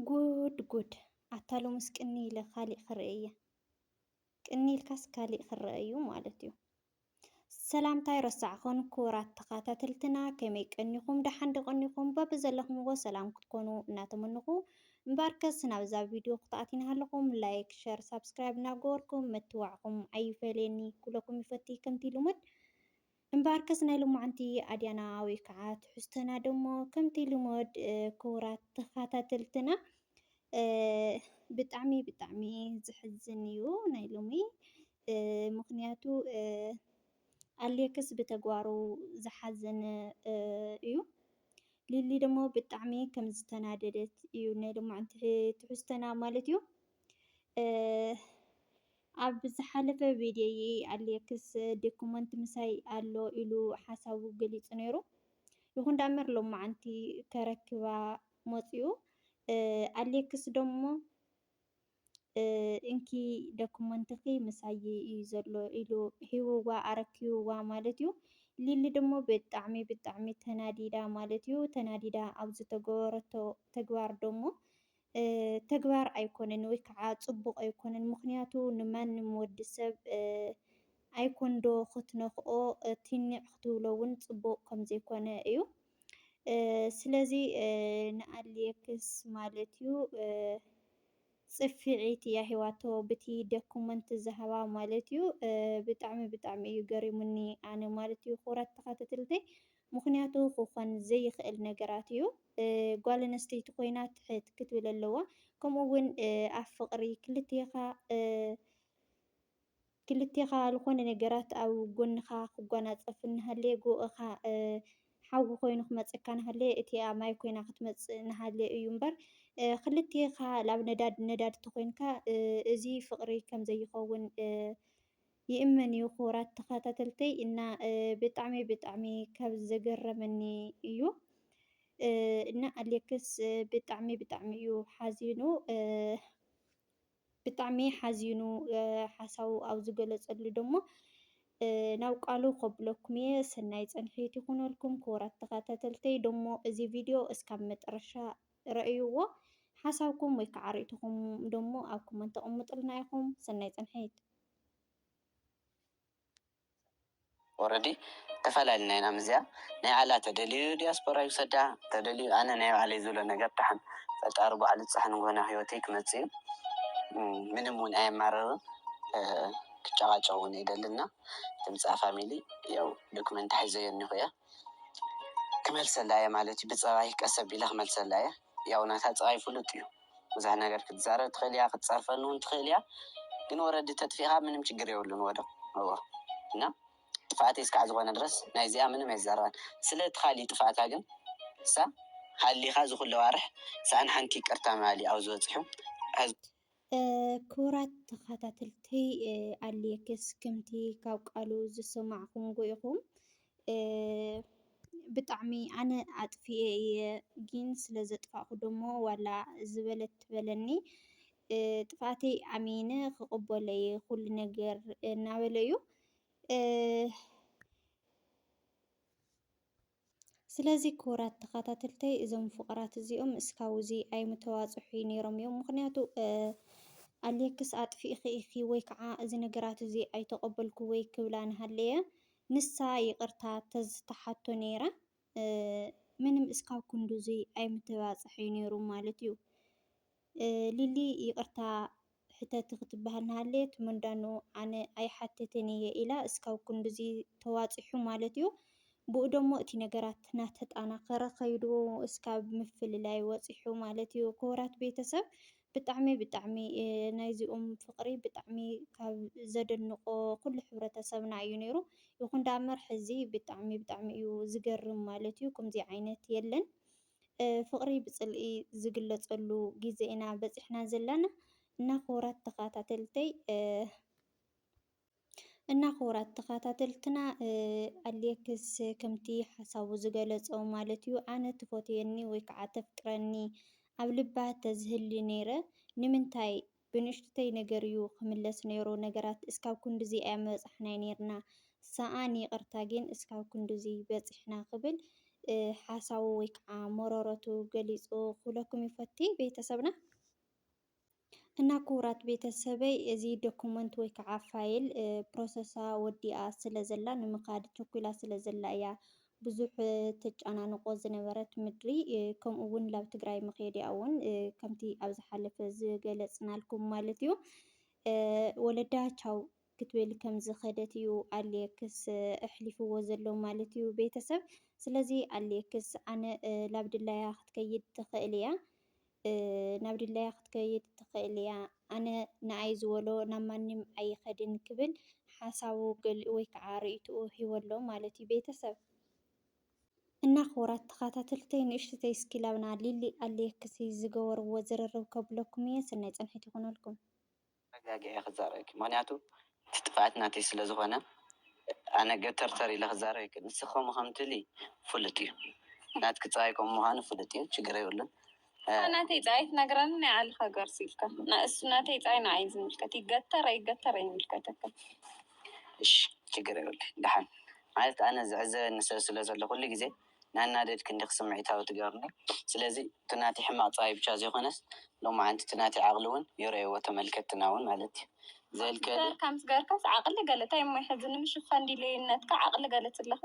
ጉድ ጉድ ኣታ ሎምስ ቅንይ ኢለ ካሊእ ክርኢ እየ። ቅንይ ኢልካስ ካሊእ ክረኣ እዩ ማለት እዩ። ሰላምታይ ረሳዕኹን ክቡራት ተኸታተልትና ከመይ ቀኒኹም ደሓን ዶ ቀኒኹም በብዘለኹምዎ ሰላም ክትኮኑ እናተመንኹ እምበኣርከስ ናብዛ ቪድዮ ክትኣት ይናሃለኹም ላይክ ሸር ሳብስክራይብ እናገበርኩም ምትዋዕኹም ኣይፈለየኒ ክብለኩም ይፈቲ ከምቲ ልሙድ እምበኣርከስ ናይ ሎማዕንቲ ኣድያና ወይ ከዓ ትሕዝቶና ደሞ ከምቲ ልሞድ ክቡራት ተኸታተልትና ብጣዕሚ ብጣዕሚ ዝሕዝን እዩ ናይ ሎሚ ምክንያቱ ኣሌክስ ብተግባሩ ዝሓዘነ እዩ ሊሊ ደሞ ብጣዕሚ ከም ዝተናደደት እዩ ናይ ሎማዕንቲ ትሕዝቶና ማለት እዩ። ኣብ ዝሓለፈ ቪድዮይ ኣሌክስ ዶክመንት ምሳይ ኣሎ ኢሉ ሓሳቡ ገሊፁ ነይሩ። ይኹን ዳመር ሎማዓንቲ ከረክባ መፂኡ። ኣሌክስ ደሞ እንኪ ዶክመንትኺ ምሳይ እዩ ዘሎ ኢሉ ሂብዋ ኣረኪብዋ ማለት እዩ። ሊሊ ደሞ ብጣዕሚ ብጣዕሚ ተናዲዳ ማለት እዩ። ተናዲዳ ኣብ ዝተገበረቶ ተግባር ደሞ ተግባር ኣይኮነን ወይ ከዓ ፅቡቅ ኣይኮነን ምክንያቱ ንማንም ወዲ ሰብ ኣይኮን ዶ ክትነክኦ ቲኒዕ ክትብሎ እውን ፅቡቅ ከምዘይኮነ እዩ ስለዚ ንኣሌክስ ማለት እዩ ፅፊዒት እያ ሂዋቶ ብቲ ደኩመንት ዝሃባ ማለት እዩ ብጣዕሚ ብጣዕሚ እዩ ገሪሙኒ ኣነ ማለት እዩ ክብራት ተካተትልተይ ምኽንያቱ ክኾን ዘይኽእል ነገራት እዩ ጓል ኣነስተይቲ ኮይና ትሕት ክትብል ኣለዋ ከምኡ እውን ኣብ ፍቅሪ ክልቴኻ ክልቴኻ ዝኾነ ነገራት ኣብ ጎንኻ ክጓናፀፍ እናሃለየ ጎእኻ ሓዊ ኮይኑ ክመፀካ ናሃለየ እቲኣ ማይ ኮይና ክትመፅእ ናሃለየ እዩ እምበር ክልቴኻ ላብ ነዳድ ነዳድ ተኾይንካ እዚ ፍቅሪ ከምዘይኸውን ይእመን እዩ ክቡራት ተኻታተልተይ እና ብጣዕሚ ብጣዕሚ ካብ ዘገረመኒ እዩ እና ኣሌክስ ብጣዕሚ ብጣዕሚ እዩ ሓዚኑ ብጣዕሚ ሓዚኑ ሓሳቡ ኣብ ዝገለጸሉ ደሞ ናብ ቃሉ ከብለኩም እየ። ሰናይ ጸንሒት ይኹነልኩም ክቡራት ተኸታተልተይ። ደሞ እዚ ቪድዮ እስካብ መጠረሻ ረእይዎ ሓሳብኩም ወይ ከዓ ሪኢቶኹም ደሞ ኣብ ኮመንት ኣቅምጡልና ኢኹም። ሰናይ ፅንሒት። ኦረዲ ተፋላሊና ኢና ምስዚኣ ናይ ባዕላ ተደልዩ ዲያስፖራ ይውሰዳ ተደልዩ ኣነ ናይ ባዕለይ ዝብሎ ነገር ዳሓን ፈጣሪ ባዕሉ ፃሕ ንግሆ ናብ ሂወተይ ክመፅእ እዩ ምንም እውን ኣየማርርን ክጨቃጨቅ እውን ኣይደልን እና ድምፃ ፋሚሊ ያው ዶክመንት ሒዘዮ እኒሆ እየ። ክመልሰላ እየ ማለት እዩ ብፀባይ ቀስ ኣቢለ ክመልሰላ እየ ያው ናታ ፀባይ ፍሉጥ እዩ ብዙሕ ነገር ክትዛረብ ትኽእል እያ ክትፀርፈኒ እውን ትኽእል እያ ግን ወረዲ ተጥፊእኻ ምንም ችግር የብሉን ወዶ እዎ እና ጥፍኣት እስካዕ ዝኾነ ድረስ ናይ እዚኣ ምንም ኣይዛረባን ስለ እቲ ካሊእ ጥፍኣታ ግን እሳ ሃሊኻ ዝኹለ ዋርሕ ሳኣን ሓንቲ ይቅርታ ምባል እዩ ኣብዚ በፂሑ ክቡራት ተኻታተልተይ ኣልየክስ ክምቲ ካብ ቃሉ ዝሰማዕኹምዎ ኢኹም ብጣዕሚ ኣነ ኣጥፊኤ እየ ግን ስለ ዘጥፋእኹ ደሞ ዋላ ዝበለት ትበለኒ ጥፍኣተይ ኣሚነ ክቕበሎ እየ ኩሉ ነገር እናበለ እዩ። ስለዚ ክቡራት ተኻታተልተይ እዞም ፍቁራት እዚኦም እስካብ እዚ ኣይምተባጽሑ ነይሮም እዮም ምኽንያቱ ኣሌክስ ኣጥፊእኺ ኢኺ ወይ ከዓ እዚ ነገራት እዚ ኣይተቀበልኩ ወይ ክብላ ንሃለየ ንሳ ይቅርታ ተዝተሓቶ ነይራ ምንም እስካብ ክንዱ እዚ ኣይምተባጽሐ ነይሩ ማለት እዩ። ሊሊ ይቅርታ ሕተቲ ክትበሃል ናሃለየት ምንዳኑ ኣነ ኣይሓትትን ኢየ ኢላ እስካብ ክንድዚ ተዋጺሑ ማለት ኢዩ ብኡ ደሞ እቲ ነገራት ናተጣናከረ ከይዱ እስካብ ምፍልላይ ወጺሑ ማለት ኢዩ ክቡራት ቤተሰብ ብጣዕሚ ብጣዕሚ ናይዚኦም ፍቅሪ ብጣዕሚ ካብ ዘደንቆ ኩሉ ሕብረተሰብና ኢዩ ነይሩ ይኩን ዳኣምበር ሕዚ ብጣዕሚ ብጣዕሚ ኢዩ ዝገርም ማለት ኢዩ ከምዚ ዓይነት የለን። ፍቅሪ ብፅልኢ ዝግለፀሉ ግዜ ኢና በፂሕና ዘለና እና ክቡራት ተከታተልተይ እና ክቡራት ተኸታተልትና ኣሌክስ ከምቲ ሓሳቡ ዝገለጾ ማለት እዩ ኣነ ትፎትየኒ ወይ ከዓ ተፍቅረኒ ኣብ ልባ ተዝህሊ ነይረ ንምንታይ ብንእሽቱተይ ነገር እዩ ክምለስ ነይሩ ነገራት እስካብ ክንዱዙይ ኣይምበፃሕናይ ነይርና ሰኣን ይቅርታ ጊን እስካብ ክንዱዙይ በፂሕና ክብል ሓሳቡ ወይ ከዓ መሮሮቱ ገሊፁ ክብለኩም ይፈቲ ቤተሰብና እና ክቡራት ቤተሰበይ እዚ ዶኩመንት ወይ ከዓ ፋይል ፕሮሰሳ ወዲኣ ስለ ዘላ ንምካድ ቸኩላ ስለ ዘላ እያ ብዙሕ ተጫናንቆ ዝነበረት ምድሪ ከምኡ እውን ላብ ትግራይ ምክየዲኣ እውን ከምቲ ኣብ ዝሓለፈ ዝገለፅናልኩም ማለት እዩ ወለዳ ቻው ክትብል ከም ዝኸደት እዩ ኣሌክስ ኣሕሊፍዎ ዘሎ ማለት እዩ ቤተሰብ። ስለዚ ኣሌክስ ኣነ ላብ ድላያ ክትከይድ ትኽእል እያ ናብ ድላያ ክትከይድ ትኽእል ኢያ። ኣነ ንኣይ ዝበሎ ናብ ማንም ኣይኸድን ክብል ሓሳቡ ገሊኡ ወይ ከዓ ርእይትኡ ሂቡ ኣሎ ማለት እዩ ቤተሰብ። እና ክቡራት ተኻታተልተይ ንእሽትተይ እስኪ ላብና ሊሊ ኣሌክስ ዝገበርዎ ዝርርብ ከብለኩም እየ ሰናይ ፃንሒት ይኹነልኩም። ተረጋጊዐ እየ ክዛረበኪ ምክንያቱ እቲ ጥፍኣት ናተይ ስለ ዝኮነ ኣነ ገተርተር ኢለ ክዛረብ ኣይክእልን ንስኪ ከምኡ ከም ትብሊ ፍሉጥ እዩ ናትኪ ፀባይ ከምኡ ምኳኑ ፍሉጥ እዩ ችግር የብሉን። ንስካ ናተይ ፀባይ ትነግረኒ ናይ ዓልካ ገርሱ ኢልካ ንእሱ ናተይ ፀባይ ንዓይ እዩ ዝምልከት ይገተር ኣይገተር ኣይምልከተካን። እሺ ችግር የብሉን ደሓን ማለት ኣነ ዝዕዘበኒ ሰብ ስለ ዘሎ ኩሉ ግዜ። ናናደድ ክንድኪ ስምዒታዊ ትገብርኒ ስለዚ እቲ ናተይ ሕማቅ ጥራይ ብቻ ዘይኮነስ ሎማዓንቲ እቲ ናተይ ዓቅሊ ውን ይረእዎ ተመልከትትና ውን ማለት እዩ ዘልከ ገርካ ምስ ገርካስ ዓቅሊ ገለ ታይ እሞ ሕዚ ንምሽፋን ዲለይነትካ ዓቅሊ ገለ ትለካ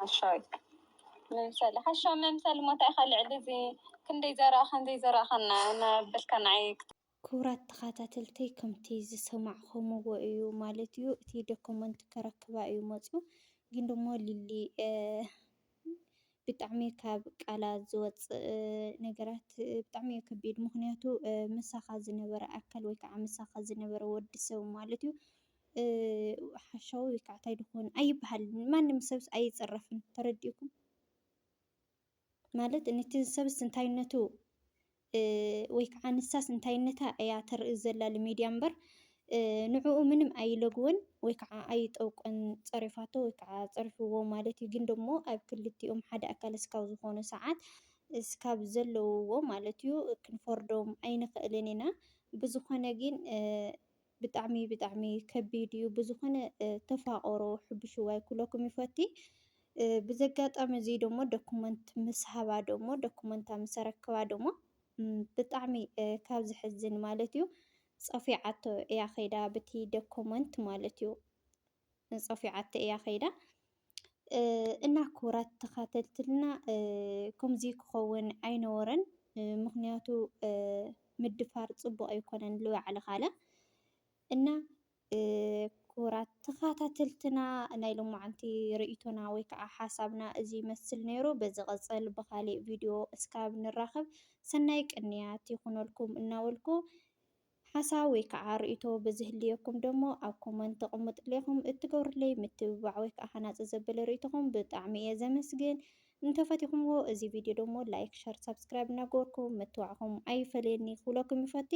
ሓሻዊት መምሰሊ ሓሻዊ መምሰሊ እሞ ታይ ኢካ ልዕሊ እዚ ክንደይ ዘረኣካን ዘይዘረኣካን ናበልካ ናዓይ ክቡራት ተኻታተልተይ ከምቲ ዝሰማዕኹምዎ እዩ ማለት እዩ እቲ ደኮመንት ከረክባ እዩ መጽዩ ግን ደሞ ሊሊ ብጣዕሚ ካብ ቃላ ዝወጽእ ነገራት ብጣዕሚ እዩ ከቢድ ምክንያቱ ምሳኻ ዝነበረ ኣካል ወይ ከዓ ምሳኻ ዝነበረ ወዲ ሰብ ማለት እዩ ሓሻዊ ወይ ከዓ ታይ ድኾን ኣይበሃልን ማንም ሰብስ ኣይጽረፍን ተረዲእኩም ማለት ንቲ ሰብስ እንታይነቱ ወይ ከዓ ንሳስ እንታይነታ እያ ተርኢ ዘላ ልሜድያ እምበር ንዕኡ ምንም ኣይለግወን ወይ ከዓ ኣይጠውቀን ፀሪፋቶ ወይ ከዓ ፀሪፍዎ ማለት እዩ። ግን ደሞ ኣብ ክልቲኦም ሓደ ኣካል እስካብ ዝኾኑ ሰዓት እስካብ ዘለውዎ ማለት እዩ ክንፈርዶም ኣይንኽእልን ኢና። ብዝኾነ ግን ብጣዕሚ ብጣዕሚ ከቢድ እዩ ብዝኮነ ተፋቀሩ ሕቡሽዋይ ኩለኩም ይፈቲ ብዘጋጣሚ እዚ ደሞ ደኩመንት ምስ ሃባ ደሞ ደኩመንታ ምስ ኣረከባ ደሞ ብጣዕሚ ካብ ዝሕዝን ማለት እዩ ጸፊዓቶ እያ ከይዳ ብቲ ደኮመንት ማለት እዩ ጸፊዓቶ እያ ከይዳ እና ክቡራት ተኻተልትና ከምዚ ክኸውን ኣይነበሮን። ምኽንያቱ ምድፋር ፅቡቕ ኣይኮነን ልባዕልኻ ኣለ እና ክቡራት ተኻታተልትና ናይ ሎማዓንቲ ርእይቶና ወይ ከዓ ሓሳብና እዚ ይመስል ነይሩ። በዚ ቐፀል ብኻሊእ ቪድዮ እስካብ ንራኸብ ሰናይ ቅንያት ይኹነልኩም እናበልኩ ሓሳብ ወይ ከዓ ርእይቶ ብዝህልየኩም ደሞ ኣብ ኮመንት ተቅምጥለይ ኢኹም እትገብሩለይ ምትብባዕ ወይ ከዓ ሃናፂ ዘበለ ርእይቶኹም ብጣዕሚ እየ ዘመስግን እንተፈቲኹምዎ እዚ ቪድዮ ደሞ ላይክ ሸር ሳብስክራይብ እናገበርኩም ምትዋዕኹም ኣይፈለየኒ ክብለኩም ይፈቲ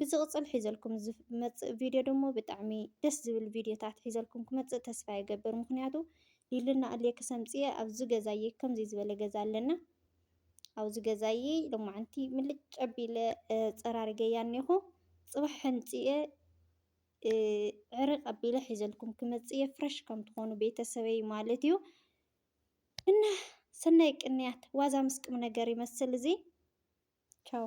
ብዝቕፅል ሒዘልኩም ዝመፅእ ቪድዮ ደሞ ብጣዕሚ ደስ ዝብል ቪድዮታት ሒዘልኩም ክመፅእ ተስፋ ይገብር ምክንያቱ ሊልና እልየ ክሰምፅየ ኣብዚ ገዛየ ከምዚ ዝበለ ገዛ ኣለና ኣብዚ ገዛይ ሎማዓንቲ ምልጭ ኣቢለ ፀራሪገያ እኒሆ ፅባሕ ሕንፂየ ዕርቅ ኣቢለ ሒዘልኩም ክመፅእ እየ ፍረሽ ከም ትኾኑ ቤተሰበይ ማለት እዩ እና ሰናይ ቅንያት ዋዛ ምስ ቁም ነገር ይመስል እዚ ቻው